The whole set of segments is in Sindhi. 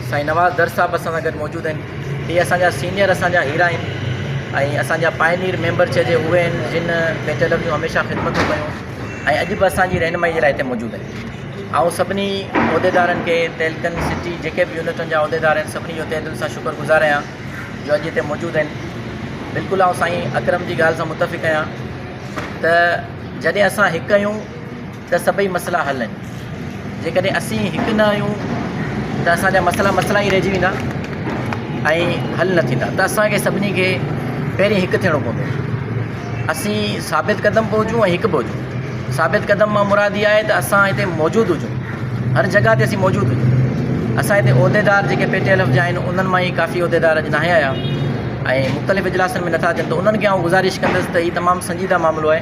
سائين نواز در صاحب اسان سان گڏ موجود آهن اهي اسان جا سينئر اسان جا هيرا آهن ۽ اسان جا پائنيئر ميمبر چئجي اهي آهن جن بيت الحق جون هميشه خدمتون ڪيون ۽ اڄ به اسان جي رهنمائي جي لاء هتي موجود آهن آئون سڀني عهديدارن کي تهلڪن سٽي جيڪي به يونٽن جا عهديدار آهن سڀني جو تهه دل سان شڪر گذار آهيان جو اڄ هتي موجود آهن بلڪل آئون سائين اڪرم جي ڳالهه سان متفق آهيان ته جڏهن اسان هڪ آهيون ته سڀئي مسئلا حل آهن جيڪڏهن اسين هڪ نه آهيون ته اسان جا مسئلا مسئلا ئي رهجي ويندا ۽ حل نه ٿيندا ته اسان کي سڀني کي پهرين هڪ ٿيڻو پوندو اسين ثابت قدم به هجون ۽ هڪ به هجون ثابت قدم مان مراد اها آهي ته اسان هتي موجود هجون هر جڳهه تي اسين موجود هجون اسان هتي عهديدار جيڪي پي ٽي ايل ايف جا آهن انهن مان ئي ڪافي عهديدار اڄ ناهي آيا ۽ مختلف اجلاسن ۾ نٿا اچن ته انهن کي آئون گذارش ڪندس ته هي تمام سنجيده معاملو آهي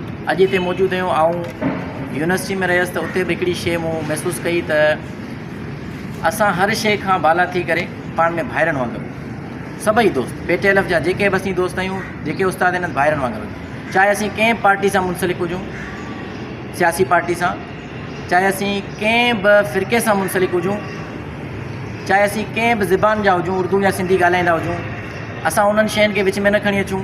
اڄ هتي موجود هيون آئون يونيورسٽي ۾ رهيس ته اتي به هڪڙي شيء مون محسوس ڪئي ته اسان هر شيء کان بالا ٿي ڪري پاڻ ۾ ڀائرن وانگر سڀئي دوست پي ٽي ايل ايف جا جيڪي به اسين دوست آهيون جيڪي استاد آهن ڀائرن وانگر چاهي اسين ڪنهن پارٽي سان منسلڪ هجون سياسي پارٽي سان چاهي اسين ڪنهن به فرقي سان منسلڪ هجون چاهي اسين ڪنهن به زبان جا هجون اردو يا سنڌي ڳالهائيندا هجون اسان انهن شين کي وچ ۾ نه کڻي اچون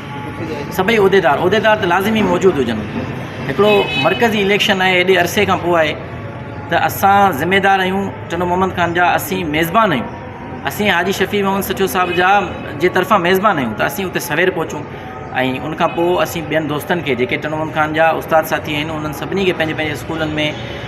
سڀئي عهديدار عهديدار ته لازمي موجود هجن هڪڙو مرڪزي اليڪشن آهي ايڏي عرصي کان پوء آهي ته اسان ذميدار آهيون ٽنو محمد خان جا اسين ميزبان آهيون اسين حاجي شفيع محمد سٺيو صاحب جا جي طرفان ميزبان آهيون ته اسين اتي سوير پهچون ۽ ان کان پوء اسين ٻين دوستن کي جيڪي ٽنو محمد خان جا استاد ساٿي آهن انهن سڀني کي پنهنجي پنهنجي اسڪولن ۾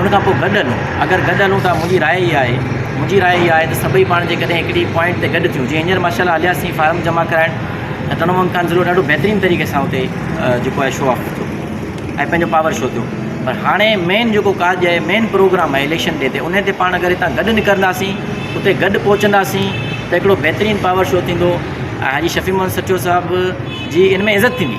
ان کان پوء گڏ هلون، اگر گڏ هلون ٿا منهنجي راء اها آهي، منهنجي راء اها آهي ته سڀئي پاڻ جيڪڏهن هڪڙي پوائنٽ تي گڏ ٿيون، جيئن هينئر ماشاءالله هليا سين فارم جمع ڪرائڻ ته تنوع امڪان ضلعو ڏاڍو بهترين طريقي سان اتي جيڪو آهي شو آف ٿيو ۽ پنهنجو پاور شو ٿيو پر هاڻي مين جيڪو ڪاڄ آهي مين پروگرام آهي اليڪشن ڏي تي انهي تي پاڻ اگر هتان گڏ نڪرنداسين اتي گڏ پهچنداسين ته هڪڙو بهترين پاور شو ٿيندو ۽ حاجي شفيع محمد سچو صاحب جي ان ۾ عزت ٿيندي.